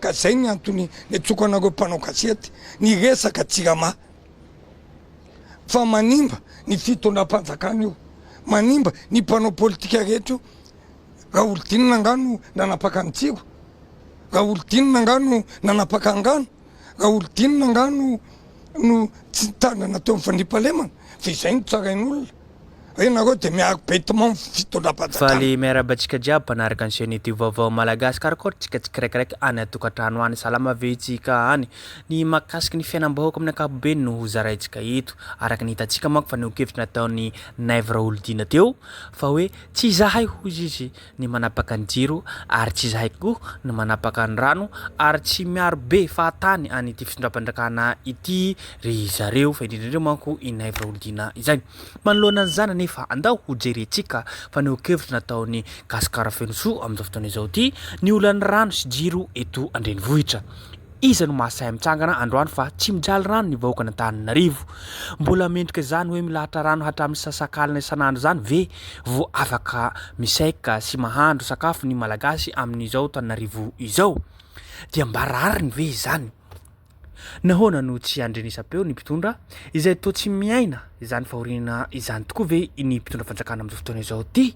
Ka zay ny antony nitsoko anareo mpanao gazety ny resaka jirama fa manimba ny fitondram-panjakana io, manimba ny mpanao politika rehetra io, raholidinina angaha no nanapaka ny jiro, raholidinina angaha no nanapaka ny rano, raholidinina angaha no no tsy nitandrina teo amin'ny fandriampahalemana fa izay no tsarain'olona. Re nareo de miaro betement fitondram-panjakana. Faly miarahaba antsika jiaby mpanaraka ny chaîne youtube vaovao malagasy karokaroka tsika tsikiraikaraiky any atokantrano any salama ve itsika any ny makasiky ny fiainambahoaka amin'ny ankapobeny no ho zaraintsika eto araka ny hitantsika manko fa neho-kevitra nataon'i Naivo Raholidina teo fa hoe tsy izahay hoy izy ny manapaka ny jiro ary tsy izahay koa no manapaka ny rano ary tsy miaro be fahatany an' ity fitondram-panjakana ity ry zareo fa indrindra indrindra manko i Naivo Raholdina izay. Manoloana an'izany anefa andao ho jerentsika fanehoan-kevitra nataon'i Gasikara Fenosoa amin'izao fotoana izao ity ny olan'ny rano sy jiro eto an-drenivohitra. Iza no mahasahy mitsangana androany fa tsy mijaly rano ny vahoakan'Antananarivo? Mbola mendrika izany hoe milahatra rano hatramin'ny sasakalina isan'andro izany ve vao afaka misaika sy mahandro sakafo ny Malagasy amin'izao tanin'arivo izao? Dia mba rariny ve izany? Nahoana no tsy andrenesam-peo ny mpitondra izay toa tsy miaina izany fahoriana izany tokoa ve ny mpitondra fanjakana amin'izao fotoana izao ty?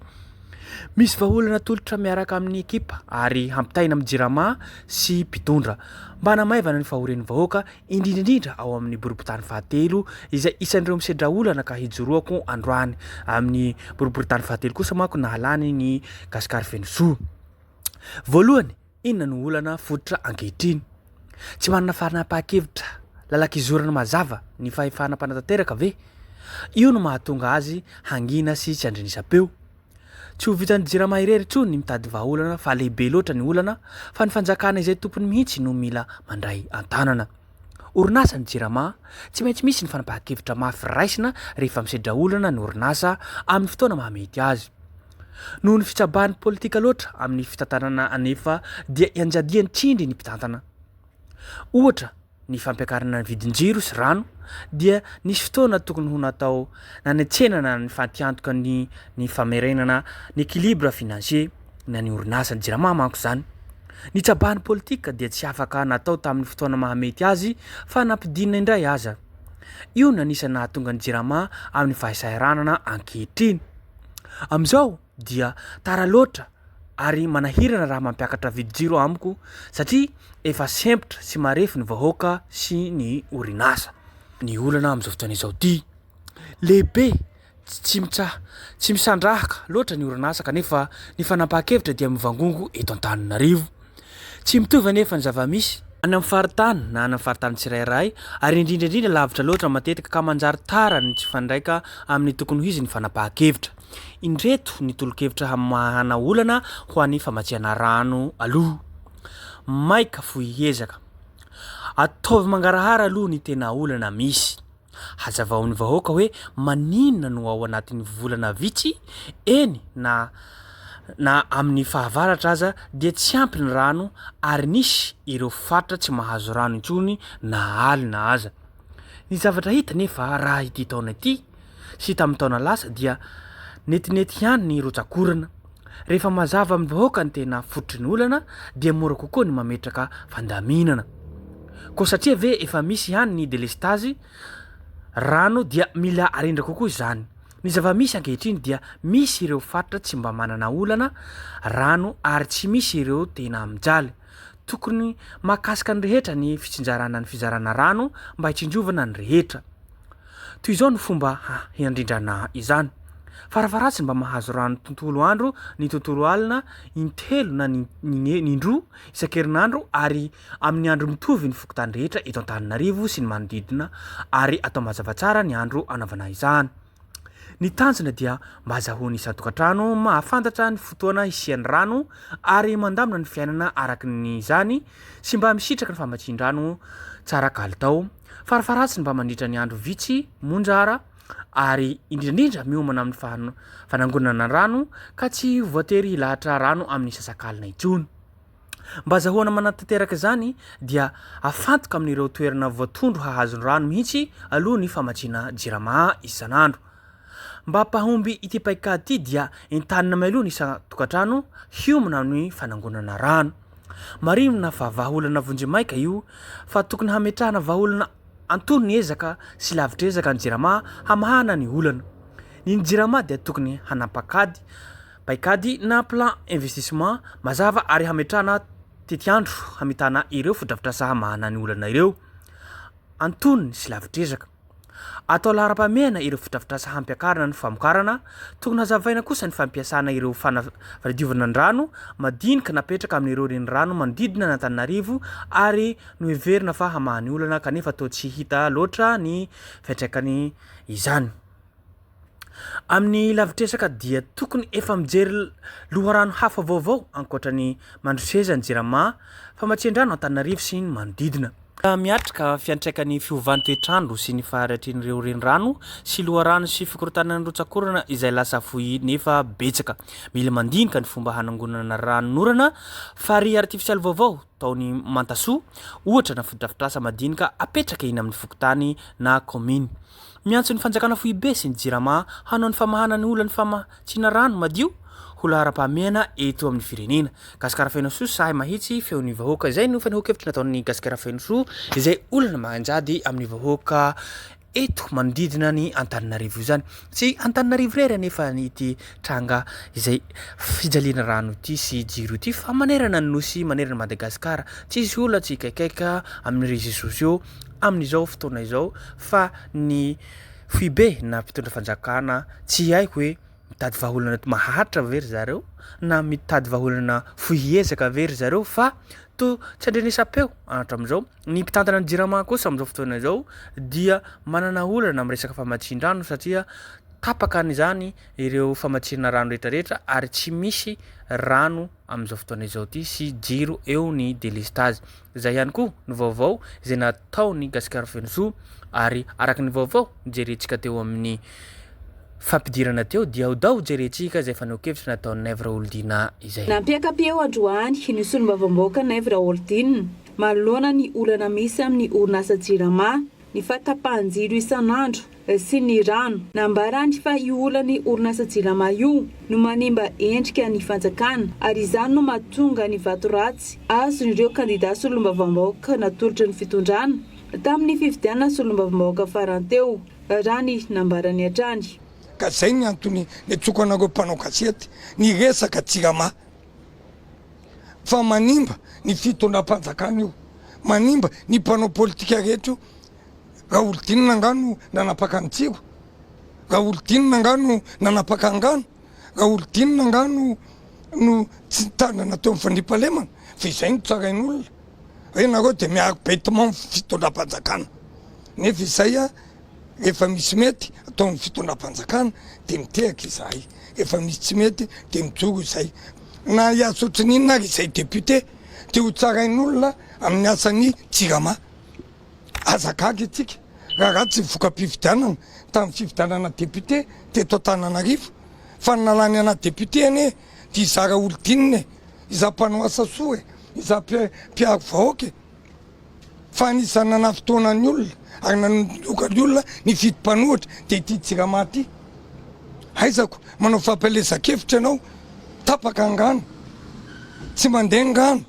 Misy vahaolana atolotra miaraka amin'ny ekipa ary hampitaina amin'ny Jirama sy mpitondra mba hanamaivana ny fahorian'ny vahoaka, indrindra indrindra ao amin'ny boriborintany fahatelo izay isan'ireo misedra olana ka hijoroako androany. Amin'ny boriborintany fahatelo kosa manko nahalany ny Gasikara Fenosoa. Voalohany, Inona no olana fototra ankehitriny? Tsy manana fanapahan-kevitra lalan-kizorana mazava ny fahefana mpanatanteraka ve? Io no mahatonga azy hangina sy tsy andrenesam-peo. Tsy ho vitan'ny Jirama irery intsony ny mitady vahaolana fa lehibe loatra ny olana fa ny fanjakana izay tompony mihitsy no mila mandray an-tanana. Orinasa ny Jirama, tsy maintsy misy ny fanapahan-kevitra mafy raisina rehefa misedra olana ny orinasa amin'ny fotoana mahamety azy. Noho ny fitsabahan'ny politika loatra amin'ny fitantanana anefa dia ianjadian'ny tsindry ny mpitantana. Ohatra, ny fampiakarana ny vidin-jiro sy rano dia nisy fotoana tokony ho natao nanetsenana ny fatiantoka ny ny famerenana ny équilibre financier ny an'ny orinasa jirama manko izany. Ny tsabahan'ny politika dia tsy afaka natao tamin'ny fotoana mahamety azy fa nampidinina indray aza. Io no anisan'ny nahatonga ny jirama amin'ny fahasahiranana ankehitriny. Amin'izao dia tara loatra ary manahirana raha mampiakatra vidin-jiro amiko satria efa sempotra sy marefo ny vahoaka sy ny orinasa. Ny olana amin'izao fotoana izao ity lehibe tsy mitsa tsy misandrahaka loatra ny orinasa kanefa ny fanapahan-kevitra dia mivangongo eto Antananarivo. Tsy mitovy anefa ny zava-misy, any amin'ny faritany na any amin'ny faritany tsirairay, ary indrindra indrindra lavitra loatra matetika, ka manjary tara ny tsy mifandraika amin'ny tokony ho izy ny fanapahan-kevitra. Indreto ny tolo-kevitra hamahana olana ho an'ny famatsiana rano aloha. Maika fohy ezaka. Ataovy mangarahara aloha ny tena olana misy. Hazavao ny vahoaka hoe maninona no ao anatin'ny volana vitsy, eny na na amin'ny fahavaratra aza dia tsy ampy ny rano ary nisy ireo faritra tsy mahazo rano intsony na alina aza. Ny zavatra hita nefa raha ity taona ity sy tamin'ny taona lasa dia netinety ihany ny rotsak'orana. Rehefa mazava amin'ny vahoaka ny tena fototry ny olana dia mora kokoa ny mametraka fandaminana. Koa satria ve efa misy ihany ny delestazy rano dia mila arindra kokoa izany. Ny zava-misy ankehitriny dia misy ireo faritra tsy mba manana olana rano ary tsy misy ireo tena mijaly. Tokony mahakasika ny rehetra ny fitsinjarana ny fizarana rano mba hitsinjovana ny rehetra. Toy izao no fomba hiandrindrana izany, Faravaratsiny mba mahazo rano tontolo andro ny tontolo alina intelo na ny ny indroa isan-kerinandro ary amin'ny andro mitovy ny fokontany rehetra eto Antananarivo sy ny manodidina ary atao mazava tsara ny andro anaovana izany. Ny tanjona dia mba azahoan'ny isan-tokantrano mahafantatra ny fotoana hisian'ny rano ary mandamina ny fiainana araka ny izany sy mba misitraka ny famatsian-drano tsara kalitao Farafaharatsiny mba mandritra ny andro vitsy monja ara ary indrindraindra miomana amin'ny fahan- fanangonana rano ka tsy voatery hilahatra rano amin'ny sasakalina intsony. Mba azahoana manatanteraka izany dia afantoka amin'ireo toerana voatondro hahazo ny rano mihitsy aloha ny famatsiana jirama isan'andro. Mba mpahomby ity paikady ity dia entanina mialoha ny isan-tokantrano hiomana amin'ny fanangonana rano. Marihina fa vahaolana vonjimaika io fa tokony hametrahana vahaolana antonony ezaka sy lavitr'ezaka ny Jirama hamahana ny olana. Ny ny Jirama dia tokony hanam paikady, paikady na plan investissement, mazava ary hametrahana tetiandro hamitana ireo fotodrafitrasa hamahana ny olana ireo antonony sy lavitr'ezaka. Atao laharam-pahamehana ireo fotodrafitrasa hampiakarana ny famokarana, tokony hazavaina kosa ny fampiasana ireo fanadiovana an-drano madinika napetraka amin'ireo renirano manodidina an'Antananarivo ary noheverina fa hamaha ny olana kanefa toa tsy hita loatra ny fiantraikany izany. Amin'ny lavitresaka dia tokony efa mijery loharano hafa vaovao ankoatra ny Mandroseza, ny Jirama, Famatsiandrano Antananarivo sy ny manodidina. Miatrika fiantraikan'ny fiovan'ny toetr'andro sy ny fahariatrian'ireo renirano sy loharano sy fikorontanana ny rotsak'orana izay lasa fohy nefa betsaka. Mila mandinika ny fomba hanangonana ranonorana, farihy artifisialy vaovao, ataon'i Mantasoa, ohatra, na fotodrafitrasa madinika apetraka eny amin'ny fokontany na kaominy. Miantso ny fanjakana foibe sy ny Jirama hanao ny famahana ny olan'ny famatsiana rano madio ho laharam-pahamehana eto amin'ny firenena. Gasikara feno soa sahy mahitsy feon'ny vahoaka. Izay no fanehoan-kevitra nataon'ny Gasikara feno soa izay olana manjady amin'ny vahoaka. eto manodidina ny Antananarivo izany. Tsy Antananarivo irery anefa ity tranga izay fijaliana rano ity sy jiro ity fa manerana ny nosy, manerana Madagasikara. Tsisy olona tsy hikaikaika amin'ny réseaux sociaux amin'izao fotoana izao fa ny foibe na mpitondra fanjakana tsy haiko hoe mitady vahaolana maharitra ve ry zareo na mitady vahaolana fohy ezaka ve ry zareo fa toa tsy andrenesam-peo hatramin'izao. Ny mpitantana ny Jirama kosa amin'izao fotoana izao dia manana olana amin'ny resaka famatsian-drano satria tapaka an'izany ireo famatsiana rano rehetrarehetra ary tsy misy rano amin'izao fotoana izao ity sy jiro eo ny delestazy. Izay ihany koa ny vaovao izay nataon'i Gasikara Fenosoa ary araka ny vaovao jerentsika teo amin'ny fampidirana teo dia odao jerentsika izay fanehoan-kevitra nataon'i Naivo Raholidina izay. Nampiaka-peo androany ny solombavambahoaka Naivo Raholidina manoloana ny olana misy amin'ny orinasa Jirama, ny fahatapahan-jiro isan'andro sy ny rano. Nambarany fa io olan'ny orinasa Jirama io no manimba endrika ny fanjakana ary izany no mahatonga ny vato ratsy azon'ireo kandida solombavambahoaka natolotry ny fitondrana tamin'ny fifidianana solombavambahoaka farany teo, raha ny nambarany hatrany. Ka izay ny antony niantsoako anareo mpanao gazety ny resaka Jirama. fa manimba ny fitondram-panjakana io, manimba ny mpanao politika rehetra io, Raholidinina angaha no nanapaka an'i Tsiro? Raholidinina angaha no nanapaka angano? Raholidinina angaha no no tsy nitandrina teo amin'ny fandriampahalemana? Fa izay no tsarain'olona hoe nareo dia miaro bêtement ny fitondram-panjakana nefa izay Efa misy mety ataon'ny fitondram-panjakana dia mitehaka izahay, efa misy tsy mety dia mijoro izay. Na hiasa ohatran'ny inona ary izay député dia ho tsarain'olona amin'ny asan'ny Jirama. Aza gaga isika raha ratsy ny voka-pifidianana tamin'ny fifidianana député teto Antananarivo fa ny nalany anà député anie dia izaho Raholdine e! Izaho mpanao asa soa e! Izaho mpiaro vahoaka e! Fa anisan'ny nanafintohina ny olona ary nanondroka ny olona ny fito mpanohitra dia ity Jirama ity. Aizako manao fampielezan-kevitra ianao, tapaka angano, tsy mandeha angano,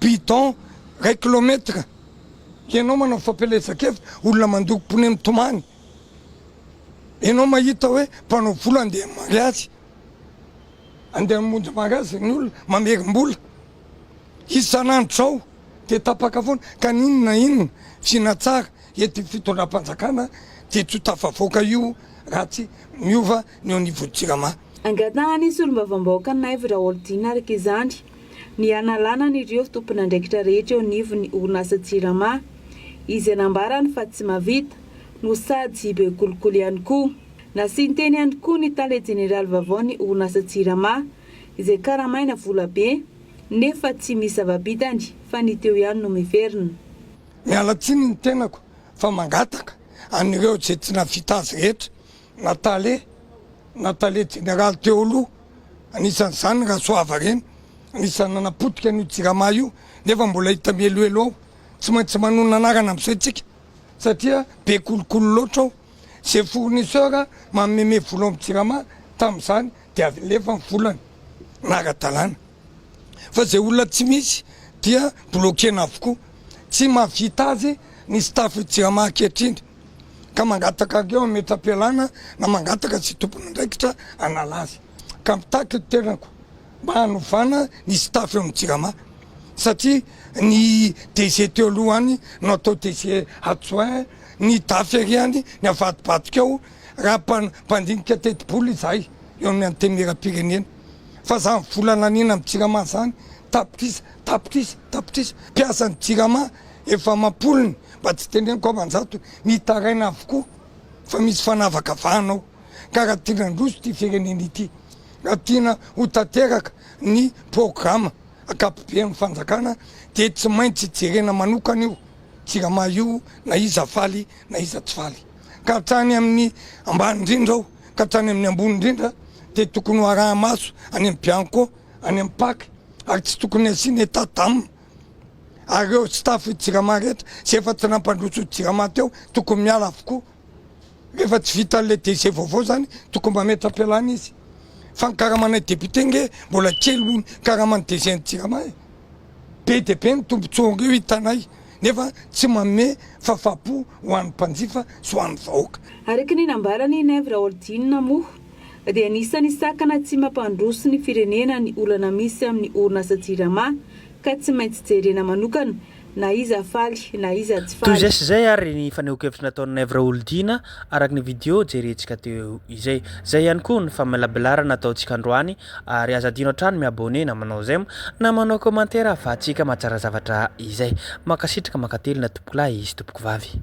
bidon iray kilometatra, ianao manao fampielezan-kevitra, olona mandoko pneu mitomany, ianao mahita hoe mpanao vola andeha mariazy, andeha hamonjy mariazy ny olona, mamerim-bola. Isan'andro zao dia tapaka foana ka n'inona na inona tsy nahatsara eto io fitondram-panjakana dia tsy ho tafavoaka io raha tsy miova ny eo anivon'ny Jirama. Angatahan'ny solombavambahoaka Naivo Raholdina araka izany ny hanalana an'ireo tompon'andraikitra rehetra eo anivon'ny orinasa Jirama izay nambarany fa tsy mahavita no sady be kolikoly ihany koa. Nasian-teny ihany koa ny tale jeneraly vaovaon'ny orinasa Jirama izay karamaina vola be nefa tsy misy zava-bitany fa ny teo ihany no miverina. Miala tsiny ny tenako fa mangataka an'ireo izay tsy navita azy rehetra na tale na tale jeneraly teo aloha anisan'izany Rasoava Reny anisan'ny nanapotika an'io jirama io nefa mbola hita mihelohelo ao tsy maintsy manonona anarana amin'izao isika satria be kolikoly loatra ao izay fournisseur manome me vola ao amin'ny jirama tamin'izany dia avy lefa ny volana raha ara-dalàna fa izay olona tsy misy dia bloquena avokoa, tsy mahavita azy ny staff jirama ankehitriny ka mangataka an'ireo hametra-pialana na mangataka izay tompon'andraikitra hanala azy ka mitaky ny tenako mba hanovana ny staff eo amin'ny jirama satria ny DG teo aloha any no atao DG adjoint, ny dafy ery any ny avadibadika ao. raha mpandinika tetibola izahay eo amin'ny Antenimierampirenena fa izany vola naniana amin'ny Jirama izany tapitrisa, tapitrisa, tapitrisa, mpiasan'ny Jirama efa amam-polony mba tsy teneniko aman-jatony, mitaraina avokoa fa misy fanavakavahana ao ka raha tiana handroso ity firenena ity, raha tiana ho tanteraka ny programa ankapoben'ny fanjakana dia tsy maintsy jerena manokana io Jirama io na iza faly na iza tsy faly. ka hatrany amin'ny ambany indrindra ao ka hatrany amin'ny ambony indrindra dia tokony ho araha-maso any amin'ny bianco, any amin'ny pac ary tsy tokony hasiana état d'âme ary ireo staff i Jirama rehetra izay efa tsy nampandroso i Jirama teo tokony miala avokoa rehefa tsy vita an'ilay DG vaovao izany tokony mametra-pialana izy fa ny karamanay député nge mbola kely noho ny karaman'ny DG-n'i Jirama e! be dia be ny tombontsoa ireo hitanay nefa tsy manome fafapo ho an'ny mpanjifa sy ho an'ny vahoaka. Araka ny nambaran' i Nev Raholdina moa dia anisan'ny sakana tsy mampandroso ny firenena ny olana misy amin'ny orinasa Jirama ka tsy maintsy jerena manokana na iza faly na iza tsy Toy faly. izay sy izay ary ny fanehoan-kevitra nataon'i Nev Raholdina araka ny video jerentsika teo izay. Izay ihany koa ny famelabelarana ataontsika androany Ary aza adino hatrany mi-abonné na manao j'aime na manao commentaire ahafahantsika mahatsara zavatra izay. Mankasitraka mankatelina tompokolahy sy tompokovavy.